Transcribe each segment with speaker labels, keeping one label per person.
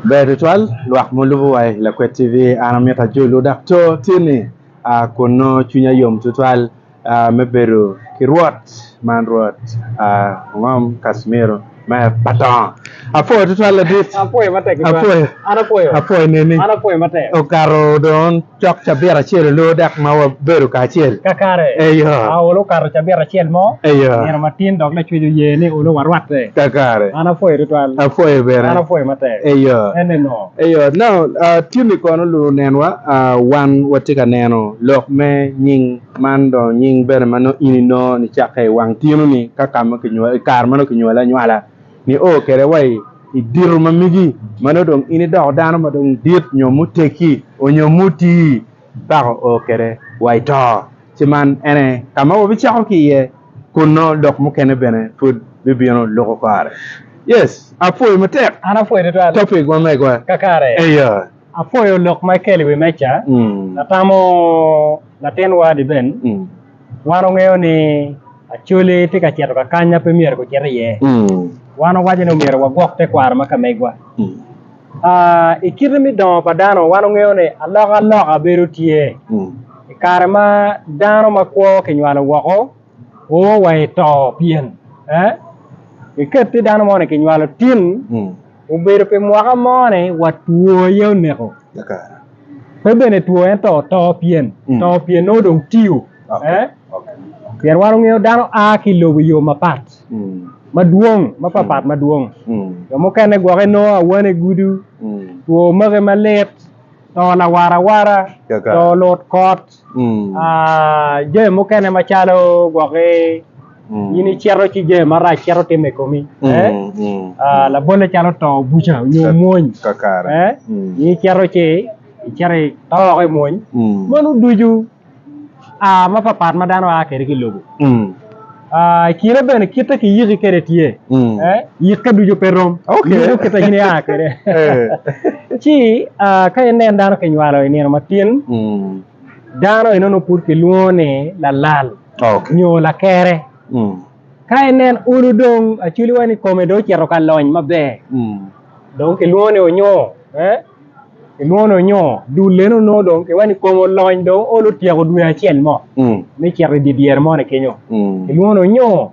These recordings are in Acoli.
Speaker 1: Ber tutwal lwak mulubo wa i Lakwet TV. An amito ajolo dak to tye ni aa kun nongo cwinya yom tutwal aa me bedo ki Rwot man Rwot aa ongom Casimiro me Patongo. Apwoyo tutwal ladit. Apwoyo matek tutwal. Apwoyo.
Speaker 2: An apwoyo.
Speaker 1: Apwoyo neni. An apwoyo matek. Okato
Speaker 2: dong.
Speaker 1: Cok cabit acel olor dok ma wabedo kacel. Kakare, Eyo.
Speaker 2: ka olo
Speaker 1: okato cabit
Speaker 2: acel mo, Eyo. nino matin dok
Speaker 1: lacwec
Speaker 2: oye ni olo warwatte. Kakare. An apwoyo
Speaker 1: tutwal.
Speaker 2: Apwoyo bene. An apwoyo
Speaker 1: matek. Eyo.
Speaker 2: Enne ngo?
Speaker 1: Eyo.
Speaker 2: Now, ah,
Speaker 1: Timmy kono luu nenwa, ah, wan watye ka neno lok me nying man dong nying bene ma nongo in inongo nicakke i wang tinoni ka ka ma kinywali, i kare ma nongo kinywali anywala. Nio kwede wa i dito ma megi ma nongo dong in idoko dano ma dong dit nyo muteggi onyo mutii, pako o kwede wa ito. Ci man ene ka ma wabicako ki iye kunno lok mukene bene pud bibino luko kare. Yes, apwoyo matek An apwoyo tutwal topic
Speaker 2: ma mega.
Speaker 1: kakare. Eya.
Speaker 2: Apwoyo
Speaker 1: lok ma
Speaker 2: ikelo i wi meja. Mm. Atamo latin wadi Ben Mm. Wan ongeyo ni Acholi tye ka cito ka kany ma pe myero gucit iye. Wan owaco ni myero wagwok tekwaro ma ka megwa. I kite me dongo pa dano, wan ongeyo ni alokaloka bedo tye. I kare ma dano ma kwo kinywalo woko, o wa i to pien, iketti dano moni kinywalo tin, Obedo pi mwaka mo ni wa two aye oneko.
Speaker 1: Pe bene
Speaker 2: two ento to pien to pien nongo dong tiyo. Pien wan ongeyo dano a ki lobo yo mapat madwong ma papat madwong. Jo mukene gwoke nongo awane gudo, two make malit, to lawara awara, to lut kot. Jami mukene macalo gwok ki in icito ci jami marac cito timo i komi labolle calo to buca nyo mwony
Speaker 1: in icito
Speaker 2: ci icito ito woko i mwony meno ducu a mapat pat ma dano a kwede ki i lobo. Ah, i kine bene kitte ki yiki kede tye. Mm. Eh, yikke ducu pe rom. Okay. Yiko kitte gini
Speaker 1: a kede.
Speaker 2: Eh. Ci, ah, ka inen dano kinywalo i nino matin, Mm. dano enono pud kilwongo ni lalal Okay. nyo lakere. Mm. Ka inen ulu dong, acwiliwa ni kome dong ocito ka lony maber. Mm. Dong kilwongo ni onyo eh kilwongo ni onyo dul leno onongo dong kiwaco ni kome olony dong olo otyeko dwe acel mo me cito idye dyere moni kenyo kilwongo ni onyo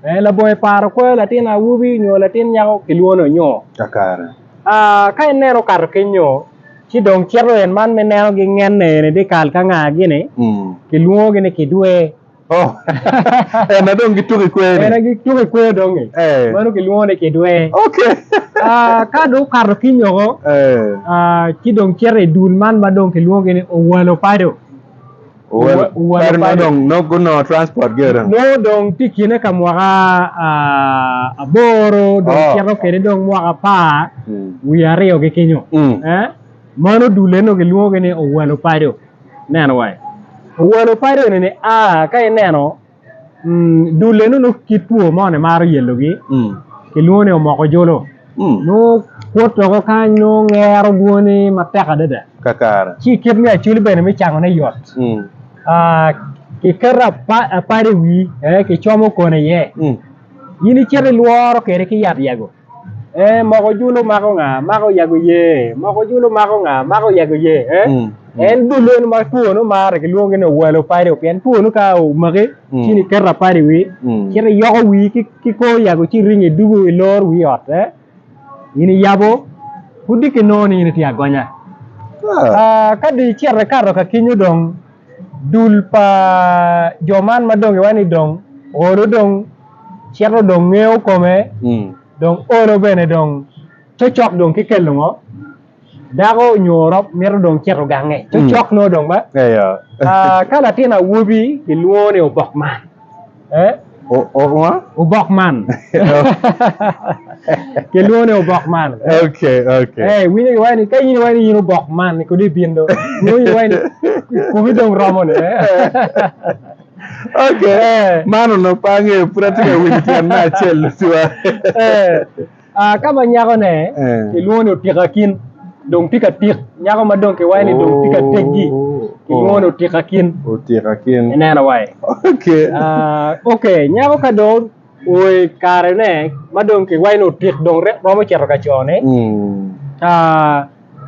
Speaker 2: eh labongo i paro kwoyo latin awobi nyo latin nyako kilwongo ni onyo kakare
Speaker 1: ah ka
Speaker 2: ineno okato kenyo ci dong cito en man ma ineno gingene eni dikal ka nga gini kilwongo gi ni kidwer.
Speaker 1: Oh, ena dong gituko i kwer-ni. Ena gituko i kwer dong-ngi.
Speaker 2: Eh. Mano kilwongo ni kidwe. Ok.
Speaker 1: Ah, ka
Speaker 2: dong okato ki nyoko, Eh. ah, ci dong cito i dul man ma dong kilwongogi ni Owalo Pado. Well, Owa-
Speaker 1: Owalo kare ma Pado. dong nok gunongo transport ge dong. Nongo dong tye kine
Speaker 2: ka mwaka ah, aboro, dong Oh. cito kwede dong mwaka apar Mm. wiye aryo-gi kenyo. Mm. Eh, mano dul eno kilwongogi ni Owalo Pado. Neno wai. Owalo padi eni ni a ka ineno dul eno nongo kit two mo ni maro yelo gi kilwongo ni omoko jolo nongo kwot doko kany nongo ngero dwoni matek adada kakare ci kit me
Speaker 1: acoli
Speaker 2: bene me cango ne yot ki keto apadi i wii ki como kone iye in icito ilworo kede ki yat yago. Eh moko julu mako nga mako yago ye moko julu mako nga mako yago ye eh mm. en dul en ma two no mare kilwongo ni owelo padi pien two no ka omaki mm. ci ni keta padi wi mm. ci ni yoko wi ki ko yago ci ringi dugu i lor wi ot eh ini yabo pudi ki no ni ini tye agonya ah. ah, ka di cere kato ka kinyo dong dul pa jo man ma dong iwa ni dong olo dong cito dong ngeyo kome dong olo bene dong cocok dong ki kelo ngo dako nyo rok mito dong cito gange cocok nongo dong ba ka latin awobi kilwongo ni obok man obok man kilwongo ni obok man
Speaker 1: iwinyo iwaco ni ka
Speaker 2: in iwaco ni in obok man kodi ibin dong iwinyo iwaco ni kumi dong romo ni.
Speaker 1: Man onongo pe angeyo, pud atye ka winyo tyen me acel tutwal.
Speaker 2: Ka ma nyakone kilwongo ni Otikakin dong tye ka tik, nyako ma dong kiwaco ni dong tye ka teggi kilwongo ni Otikakin. Otikakin. Ineno wai? Ok, nyako ka dong oo i karene ma dong kiwaco ni otik dong romo cito ka cone,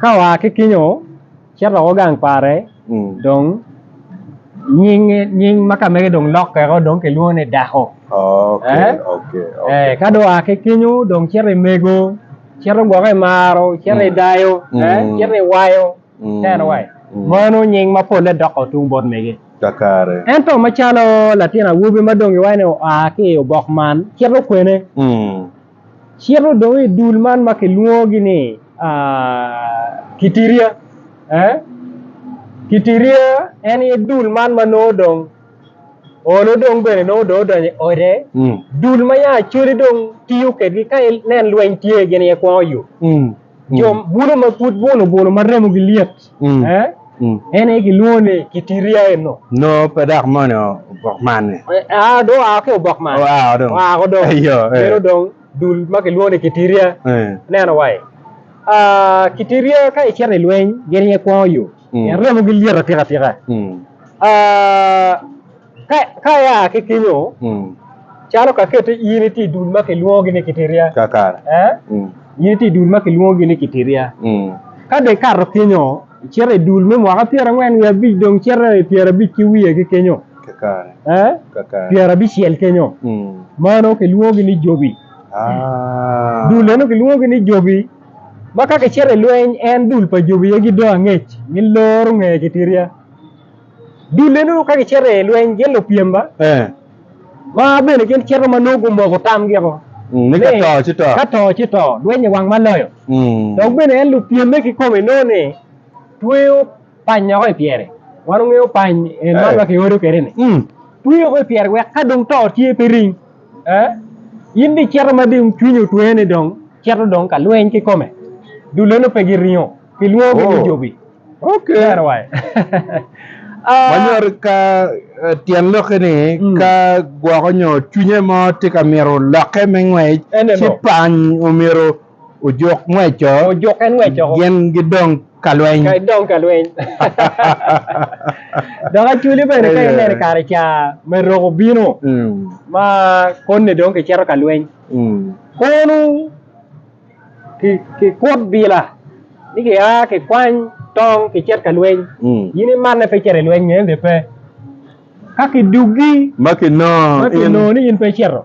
Speaker 2: ka oa ki kinyo Cito woko gang pare dong nying ma kamege dong lokke woko dong kilwongo ni Dako. Ka dong oa ki kenyo dong cito i Mego, cito gwoko i Maro, cito i Dayo, cito i Wayo. Meno nying ma polle doko tung bot mege. Ento
Speaker 1: macalo
Speaker 2: latin awobi ma dong iwaco ni oa ki i obok man cito kwene? Cito dong i dul man ma kilwongogi ni Kitiria. Kitiria en aye dul man ma nongo dong Olo dong bene nongo dong odonyo i ode. Dul ma ya Acholi dong tiyo kwedgi ka inen lweny tye gin aye kwongo yo. Jo bulo ma pud buno buno ma remogi lyet. Mm. Eh? Mm. En aye kilwongo ni kitiria eno. No pe dok moni
Speaker 1: obok man ni. Eh, ah, do ah
Speaker 2: ki obok man. Oh, ah, do. Ah, ko do. Eh, yo, eh. Meno dong dul ma kilwongo ni kitiria. Eh. Neno wai. Ah, kitiria ka icito i lweny, gin aye kwongo yo. Mm. Pien remo gi lyet atika tika. Mm. Ah, Ka, ka ia ki kinyo, Mm. calo ka kette in itye i dul ma kilwongogi ni Kitiria, Kakare. eh?
Speaker 1: Mm. in itye
Speaker 2: i dul ma kilwongogi ni Kitiria. Mm. Ka dong ikato kinyo, icito i dul me mwaka pyerangwen wiye abic, dong cito i pyerabic ki wiye ki kinyo, Kakare. eh?
Speaker 1: Kakare.
Speaker 2: pyerabicel kinyo, Mm. mano kilwongogi ni jobi. Ah. Dul eno kilwongogi ni jobi, ma ka kicito i lweny, en dul pa jobi aye gidong angec, giloro nge Kitiria. Dul enonu ka gicito i lweny gin lupyem-ma ma bene gin cito ma nongo gumoko tamgiko ni ka to ci to,
Speaker 1: ka to ci to, lweny i
Speaker 2: wang ma loyo. Dok bene en lupyemme kikome nongo ni tweyo panyoko i pyere, wan ongeyo pany en man ma kiodo kwede-ni, tweyo ko i pyere wek ka dong to tye pe ring. In dong icito ma dong cwinyi otweye ni dong cito dong ka lweny kikome, dul eno pe giringo, kilwongo-gi ni jobi. Okay. That way. Ah, Manyoro
Speaker 1: ka eh, tyen lokke ni Mm. ka gwoko nyo cwinye mo tye ka myero lokke me ngwec Ene ci no. pany omyero ojuk ngweco Ojuk en ngwecco. gin gidong ka lweny. Ka idong ka lweny.
Speaker 2: Dok actually bene ka ineno i kare ca me rok obino Mm, ma koni dong kicito ka lweny. mm. Kono kikut bila ni ki a ki kwany tong ki cit ka lweny in imanne pe icito ilweny nyo en be pe ka ki dugi ma ki nongo
Speaker 1: ni in pe
Speaker 2: icito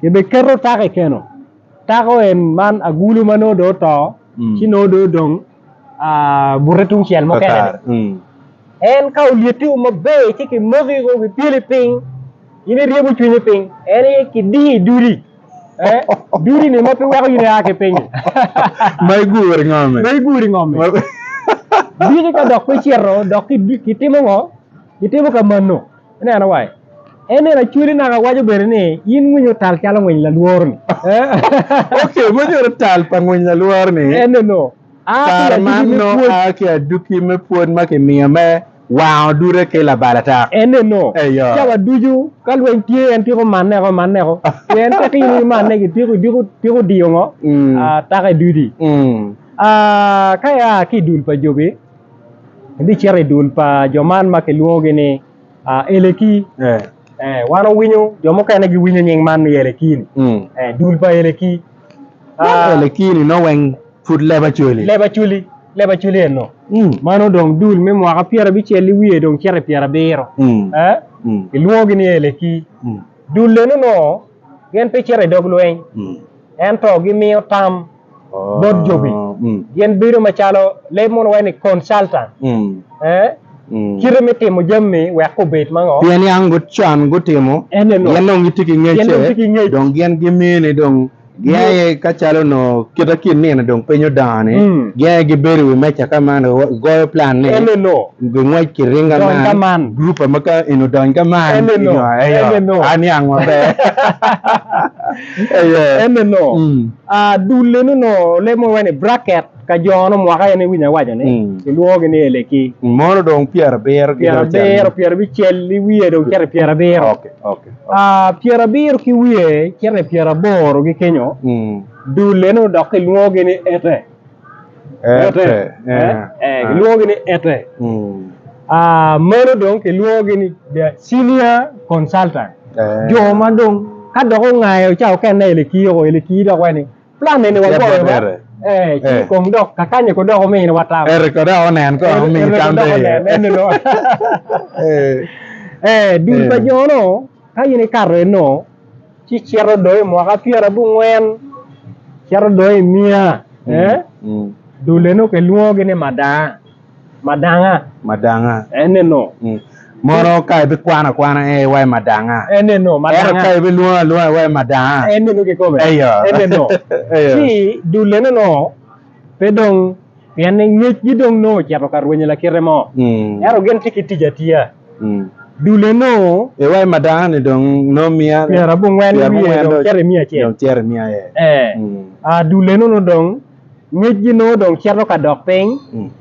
Speaker 2: ki bi keto taka ikeno taka en man agulu ma nongo dong oto ci nongo dong odong bute tungcel mukene en ka olyeti o maber ci ki moko iko ki pyeli piny in iryebo cwinyi piny en aye ki diyo i duli eh, duli ni ma pe weko in ia ki pinyi ma
Speaker 1: iguri ngome ma iguri ngome
Speaker 2: diki ka dok pe cito dok kitimo ngo kitimo ka mano Ineno wa, en eni acwali naka waco bene ni in ngwinyi otal calo ngwiny lalworo-ni. Oke,
Speaker 1: munyuto tal pa ngwiny lalworo-ni. Eneno, aa
Speaker 2: ki Kare man adugi me
Speaker 1: nongo pwod. aa ki aduki me pwod ma kimiyo me wango dute ki labalatak. Eneno, Eyo.
Speaker 2: cawa ducu ka lweny tye en tyeko maneko maneko, pien ka tino i manne gi tyeko idyeko tyeko diyo ngo? Mm. Aa, taka i dudi. Mm. Aa, ka ia ki i dul pa jobi. Abicito i dul pa jo man ma kilwongogi ni Eleki, wan owinyo jo mukene giwinyo nying man ni Eleki-ni, dul pa Eleki.
Speaker 1: Eleki-ni nongo weng pud leba coli. Leba coli, leba coli eno.
Speaker 2: Mano dong dul me mwaka pyera bicel i wiye dong cito i pyera biro. Kilwongogi ni Eleki. Dul eno nongo gin pe cito i dog lweny, ento gimiyo tam. bot jobi, gin bedo macalo leb mono waci ni consultant. Kite me timo jami wek gubed mango? Pien yang gut con
Speaker 1: gutimo, gin dong gitye ki ngecce, dong gin gimiyo ni dong gin aye ka calo onongo kite ki nino dong piny odongo ni, gin aye gibedo i wi meja ka man gigoyo plan ni gingwec
Speaker 2: ki ringa
Speaker 1: man, group ma ka eni odony ka man nyo aye, an yang maber.
Speaker 2: Dul eno onongo leb mo iwaci ni bracket ka jo onongo mwaka aye ni winyo awaco ni kilwongo gi ni eleki. Mono dong pyera
Speaker 1: abiro gi dong cen. Pyera abiro pyera
Speaker 2: bicel i wiye dong cito i pyera abiro.
Speaker 1: Pyera abiro
Speaker 2: ki wiye cito i pyera aboro gi kenyo dul eno dok kilwongo gi ni ete. Ete. Ee, kilwongogi ni Ete. Meno dong kilwongogi ni the senior consultant. Jo ma dong ka dok ongayo ca okenne i Elekii oko, Elekii dok waci ni plan eni wagoyo ba, ee, ci kong dok kakanye ko dok ominwa tam. Ete ko dok onen kong
Speaker 1: omi tam pe iye.
Speaker 2: Ee, dul pa jono ka in ikato eno, ci cito dong i mwaka pyera abongwen cito dong i miya dule nongo kilwongogi ni madanga madanga madanga eneno mono
Speaker 1: ka ibikwano akwana e iwaci madanga eneno ento ka
Speaker 2: ibilwongo alwonga iwaci
Speaker 1: madanga eneno kikobe
Speaker 2: eneno ci dule neno pe dong pien ngecgi dong nongo ocito ka rwenyo lakite mo, ento gin tye ki tic atiya. Dule nongo. E wai ma dakoni
Speaker 1: dong nongo miya pyera abongwen wiye
Speaker 2: dong cito i miya acel. Dong cito i miya aye. Ee. Dule nongo dong ngecgi nongo dong cito ka dok piny,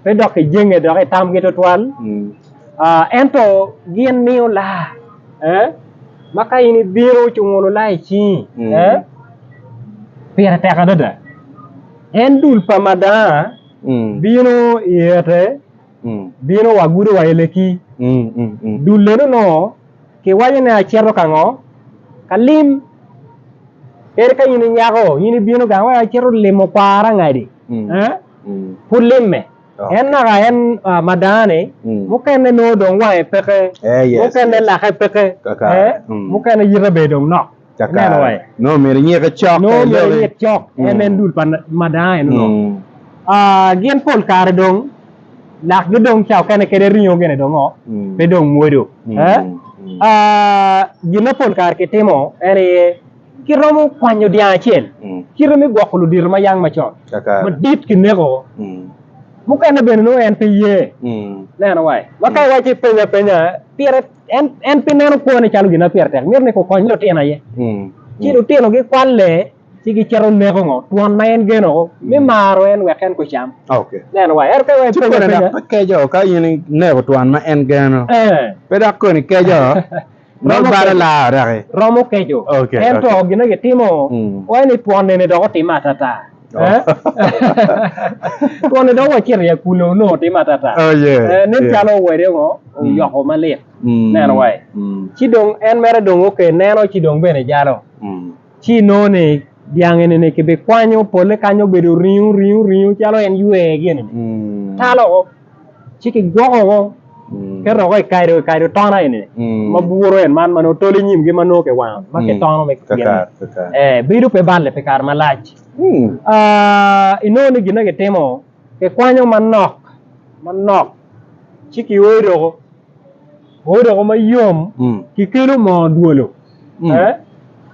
Speaker 2: pe dok ki jenge dok i tamgi twatwal. Ento gin miyo laa, ee, ma ka in ibino ci ongolo laa i cingi, ee, pire tek adada. En dul pa madanga bino i ete bino wa gudo wa i leki. Dul eno nongo kiwaco ne aceto ka ngo? Ka lim. Kadi ka in i nyako in ibino gang wek aceto limo kwara ngadi pud limme. En naka en madanga ni mukene nongo dong wange peke, mukene lake peke, mukene yite bene dong nok. Kakare. Nongo
Speaker 1: myero inyike cok. Nongo myero inyik cok
Speaker 2: en en dul pa madanga eno nongo. Gin pol kare dong lakgi dong ca okene kede ringo gene dong oo pe dong mwodo. Gin ma pol kare kitimo en aye kiromo kwanyo dyang acel kite me gwoko ludito ma yang macon madit kineko mukene bene nongo en pe ye neno wa. Ma ka iwaci penya penya pire. en en pe neno kwone calo gin ma pire tek mito ni kukony lutino aye ci lutino gikwalle ci gicito neko ngo twon ma en geno o me maro en wek en kucam Okay. neno wa ero
Speaker 1: ka wa Ci
Speaker 2: kone dok pe keco
Speaker 1: ka in ineko twon ma en geno. eh Pe dok koni keco. Romo Romo balo keco. laa odaki. romo keco
Speaker 2: Okay, ento okay. gin ma gitimo Mm. wa ni twon nene dok otime atata Twon ni dong wacito i akule onongo timo atata. Oh, yeah, Eh, nen yeah. calo wede ngo oyoko malit. Mm, Neno wai. mm. Ci dong en mere dong oke neno ci dong bene jalo. Mm. Ci inongo ni dyang eni ni kibikwanyo polle kany obedo ringo ringo ringo calo en ywee gini ni. Mm. Talo. ci kigwoko ngo keto ngo i kado i kado tona eni ma buro en man mano tol inyim gi mano ke wango ma ke tono me kakar kakar eh bedo pe balle pe kare malac inongo ni gin na gitimo kikwanyo manok manok ci ki oyo doko Odoko mayom kikelo moo odwolo ee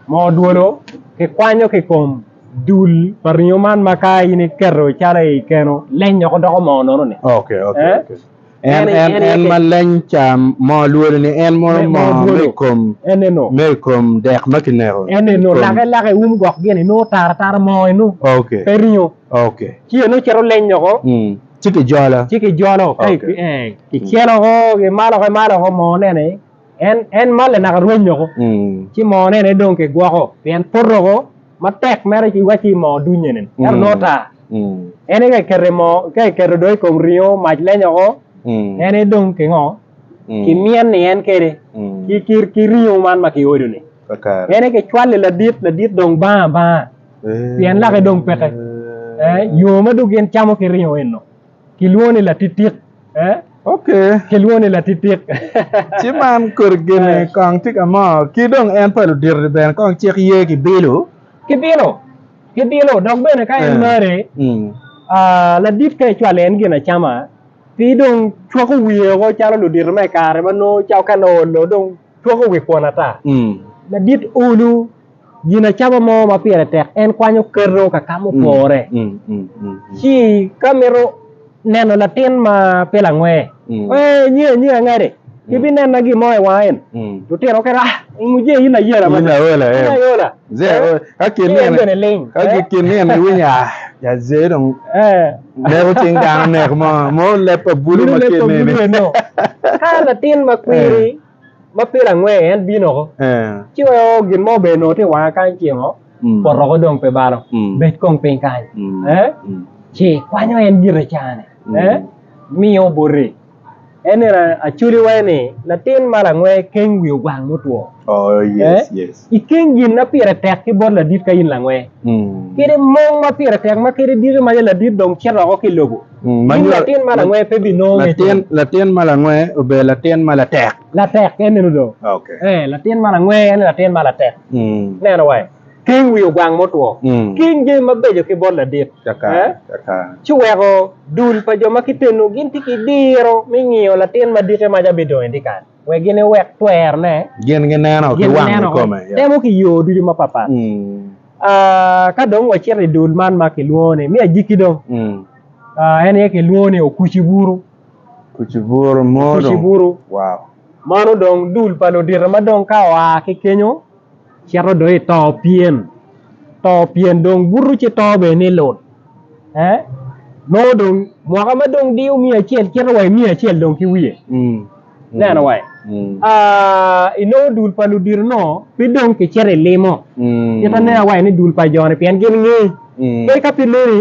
Speaker 2: moo odwolo kikwanyo ki kom dul pa ringo man ma ka in iketo calo i keno leny woko doko moo nono ni okay okay eh? okay
Speaker 1: en en en ma leny ca moo lwolo ni en mono moo me kom eneno me
Speaker 2: kom dek ma
Speaker 1: kineko eneno lake lake
Speaker 2: um gok gini no tara tara moo inu okay pe ringo
Speaker 1: okay
Speaker 2: ci eno
Speaker 1: cito leny
Speaker 2: woko mm. Ci kijolo.
Speaker 1: Ci kijolo ka Okay. i-
Speaker 2: eh, kicelo ko ki malo ki malo ko moo nene en en malle naka rwenyo ko Mm. ci moo nene dong kigwoko pien poto ko matek mere ci wacci moo dunye nene ento Mm. nongo tar Mm. en ka ikete moo ka iketo dong i kom ringo mac lenyo ko Mm. en dong kingo Mm. kimyen ni en kede Mm. ki ki ki ringo man ma kiodo ni En aye kicwali ladit, ladit dong bang abanga, pien lake dong peke. Yo ma dong gin camo ki ringo eno kilwongo ni latitik.
Speaker 1: Kilwongo ni
Speaker 2: latitik. Ci man
Speaker 1: kodi gene kong tye ka mo, ki dong en pa ludito-ni bene kong cik ye ki bilo? Ki bilo, ki bilo. Dok bene ka en marre, ladit ka icwali en gin acama, pi dong cwako wiye woko calo ludito me i kare ma nongo cawa ka laolo dong. Twako wi kwon ata. Ladit olu ginacama mo ma pire tek en kwanyo keto ka ka mupore. Ci ka mito neno latin ma pe langwe, ee nyi anyi angade ki binena gin mo i wanga en. Lutino kene ah i muje in ayela mada. In aola in em. ayola. Ze Eh, ka kin ki en nene bene ling. ka ki- kin nene iwinyo ah ja ze dong. Eh. Neko cing dano neko mo mo lep pa bulu ma kine ni. Ka
Speaker 2: latin ma kwiri eh. ma pire angwe en bino ko. Eh. Ci weo gin mo be no ti wanga kany cimo. Mm. Poto ko dong pe balo. Mm. Bet kong piny kany. Mm. Eh. Mm. Ci kwanyo en gire cane. Mm. Eh. Miyo boti. En nino acoli waye ni latin ma langwe keng wi ogwang mutwo. Oh, yes, eh?
Speaker 1: yes. I keng gin na pire
Speaker 2: tek ki bot ladit ka in langwe. Mm. Kede mong ma pire tek ma kede diki ma ladit dong cito oko ki lobo. Mm, ma in latin ma langwe pe bi nongo latin, latin ma
Speaker 1: langwe obedo latin ma latek. Latek, en nino do.
Speaker 2: Okay. Eh, latin ma
Speaker 1: langwe en
Speaker 2: latin ma latek. Mm. Neno waye. King wi ogwang mutwo, king jami mabeco ki bot ladit,
Speaker 1: ci weko
Speaker 2: dul pa jo ma kiteno gin tye ki diro me ngiyo latin ma dikke maca bidongo i dyekal, wek gin ewek twerne. Gin gineno ki
Speaker 1: wang kikome. Temo ki yo ducu
Speaker 2: mapatpat. Ka dong wacito i dul man ma kilwongo ni me ajiki dong, en aye kilwongo ni okuci buru. Okuci buru mo dong. Okuci buru. Wow. Mano dong dul pa ludito ma dong ka oa ki kenyo. cito do i to pien to pien dong buto ci to bene ni lut eh nongo dong mwaka ma dong diyo miya acel cito wa i miya acel dong ki wiye ineno wa inongo dul pa ludito-nu pe dong kicito ilimo cit aneno wa ni dul pa jo-ni pien gin ngi kadi ka pe loni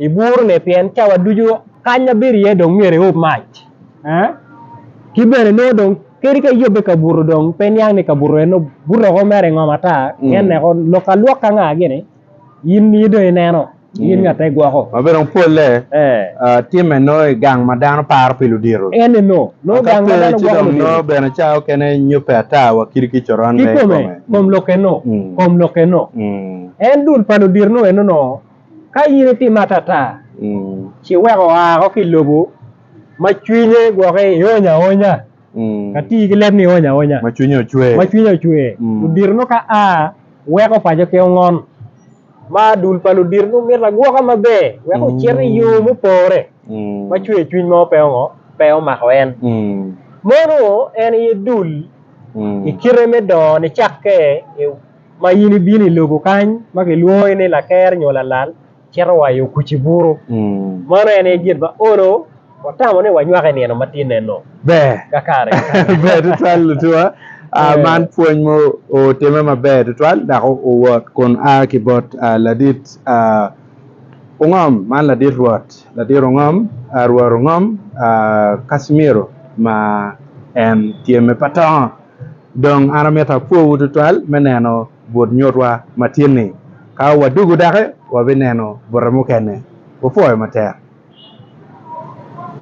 Speaker 2: I burune, pien cawa ducu kany ma bedo iye dong myero eob mac. Ki bene nongo dong kadi ka eyobbe i kabuto dong pe niang ni kabuto en nongo bute woko mere ingom ata, pien ne woko lok ka lwok ka nga gini in aye dong ineno, in nga te gwoko. Ma bene dong polle
Speaker 1: timme nongo i gang ma dano paro pi ludito. Ene no, nongo gang
Speaker 2: ma dano gwoko ludito. Nongo bene cawa mukene
Speaker 1: nyobbe ata wa kit ki coron me i kome. Kikome, kom lokke no,
Speaker 2: kom lokke no. En dul pa ludito nongo eno no. Ka in itimo atata, ci wek oa woko ki i lobo ma cwinye gwokke ni ony aonya, ka tii ki leb ni ony aonya, ma cwinye
Speaker 1: ocwer. Ludito nongo ka
Speaker 2: a, weko paco ki ongon, ma dul pa ludito nongo mito agwoka maber wek ocit i yo mupore ma cwer cwiny mo pe omako en. Mono en aye dul i kite me dongo nicakke. ma in ibino i lobo kany ma kilwongi ni laker nyo lalal cito wa i okuc-ci buru. Mano en aye gin ma olo watamo ni wanywak i nino matinne-nu. Ber. Ka kare ki kare. Ber tutwal
Speaker 1: lutuwa. Man pwony ma otime maber tutwal dok owot kun a ki bot ladit Ongom. Man ladit Rwot, ladit Ongom, Rwot Ongom Casimiro ma en tye me Patongo. Dong an amito apwowu tutwal me neno but nyutwa ma tin-ni. Ka wadugo doki, wabineno bute mukene. Wupwoyo matek.